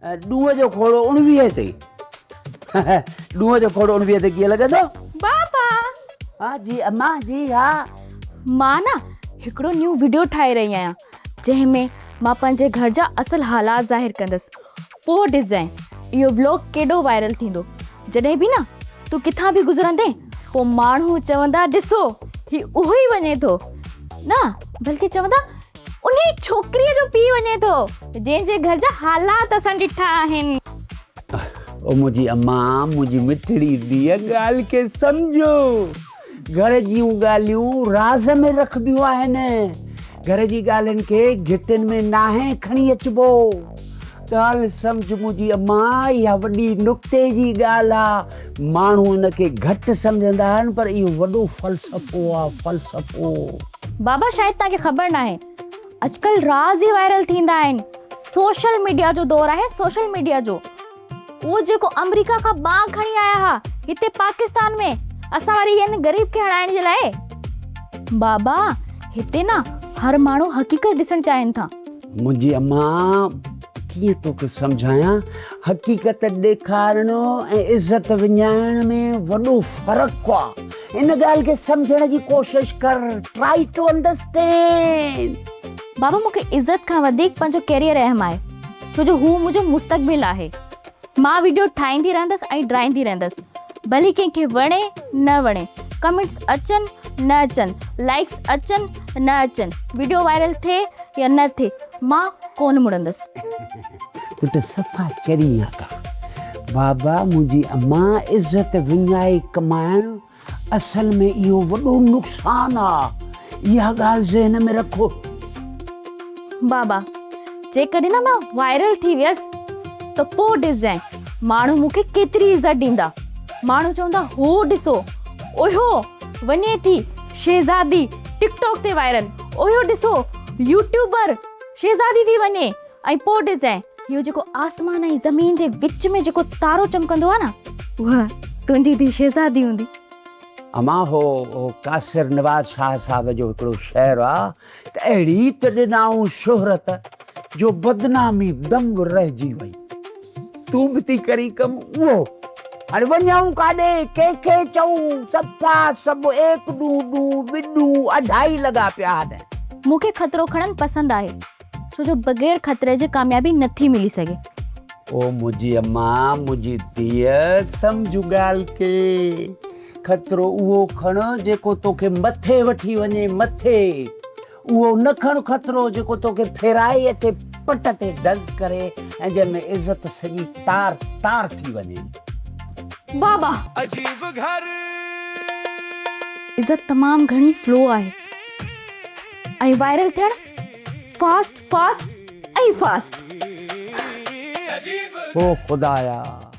ڏونهن جو کوڙو اڻويهه تي ڏونهن جو کوڙو اڻويهه تي ڪيئن لڳندو؟ بابا! ها جي اما جي ها. مان نه هڪڙو نيون وڊيو ٺاهي رهي آهيان جنهن ۾ مان پنهنجي گهر جا اصل حالات ظاهر ڪندس پوء ڏسجانء اهو بلاگ ڪيڏو وائرل ٿيندو جڏهن به نه تون ڪٿان به گذرندين پوء ماڻهو چوندا ڏسو هي اهو ئي وڃي ٿو نه بلڪه چوندا انهي ڇوڪريء جو پيء وڃي ٿو، جنهن جي گهر جا حالات اسان ڏٺا آهن. او منهنجي اما، منهنجي مٺڙي ڌيء، ڳالهه کي سمجهو. گهر جون ڳالهيون راز ۾ رکبيون آهن. گهر جي ڳالهين کي گهٽين ۾ ناهي کڻي اچبو. ڳالهه سمجهه منهنجي اما، اها وڏي نڪتي جي ڳالهه آ. ماڻهو ان کي گهٽ سمجهندا آهن، پر اهو وڏو فلسفو آ، فلسفو. بابا شايد توهان کي خبر ناهي اڄڪلهه راز ئي وائرل ٿيندا آهن سوشل ميڊيا جو دور آهي سوشل ميڊيا جو اهو جيڪو آمريڪا کان ٻانگ کڻي آيا ها هتي پاڪستان ۾ اسان وري ان غريب کي هڻائڻ جي لاء بابا هتي نه هر ماڻهو حقيقت ڏسڻ چاهين ٿا منهنجي اما ڪيئن توکي سمجهايان حقيقت ڏيکارڻ ۽ عزت وڃائڻ ۾ وڏو فرق آ ان ڳالهه کي سمجهڻ جي ڪوشش ڪر ٽرائي ٽو انڊرسٽينڊ بابا مونکي عزت کان وڌيڪ پنهنجو ڪيريئر اهم آهي ڇو جو هو منهنجو مستقبل آهي مان وڊيو ٺاهيندي رهندس ۽ ڊرائيندي رهندس ڀلي ڪنهن کي وڻي نه وڻي ڪمينٽس اچن نه اچن لائيڪس اچن نه اچن وڊيو وائرل ٿئي يا نه ٿئي مان ڪونه مڙندس. پٽ صفا چرين آ ڪا. بابا منهنجي امان عزت وڃائي ڪمائڻ اصل ۾ اهو وڏو نقصان آ اها ڳالهه ذهن ۾ رکو. بابا جيڪڏهن نه مان وائرل ٿي ويس ته پوء ڏسجانء ماڻهو مون کي ڪيتري عزت ڏيندا ماڻهو چوندا هو ڏسو اهو وڃي ٿي شهزادي ٽڪ ٽاڪ تي وائرل اهو ڏسو يوٽيوبر شهزادي ٿي وڃي ۽ پوء ڏسجانء، اهو جيڪو آسمان ۽ زمين جي وچ ۾ جيڪو تارو چمڪندو آهي نه، اها تنهنجي ڌيء شهزادي هوندي. اما هو قاصر نواز شاهه صاحب جو هڪڙو شعر آ ته اهڙي ته ڏنائون شهرت جو بدنامي دم رهجي وئي. تون به ٿي ڪرين ڪم اهو. هاڻي وڃون ڪاڏي، ڪنهن کي چئون؟ صفا سڀ ايڪ ڏون ڏون، ٻه ڏون، اڍائي لڳا پيا آهن. مون کي خطرو کڻڻ پسند آهي. ڇو جو بغير خطري جي ڪاميابي نه ٿي ملي سگهي. او منهنجي اما، منهنجي ڌيء، سمجهه ڳالهه کي. خطرو اهو کڻ جيڪو توکي مٿي وٺي وڃي، مٿي. اهو نه کڻ خطرو جيڪو توکي ڦيرائي اٿي پٽ تي ڊز ڪري ۽ جنهن ۾ عزت سڄي تار تار ٿي وڃي. بابا! عزت تمام گهڻي سلو آهي ۽ وائرل ٿيڻ فاسٽ فاسٽ ۽ فاسٽ. او خدايا!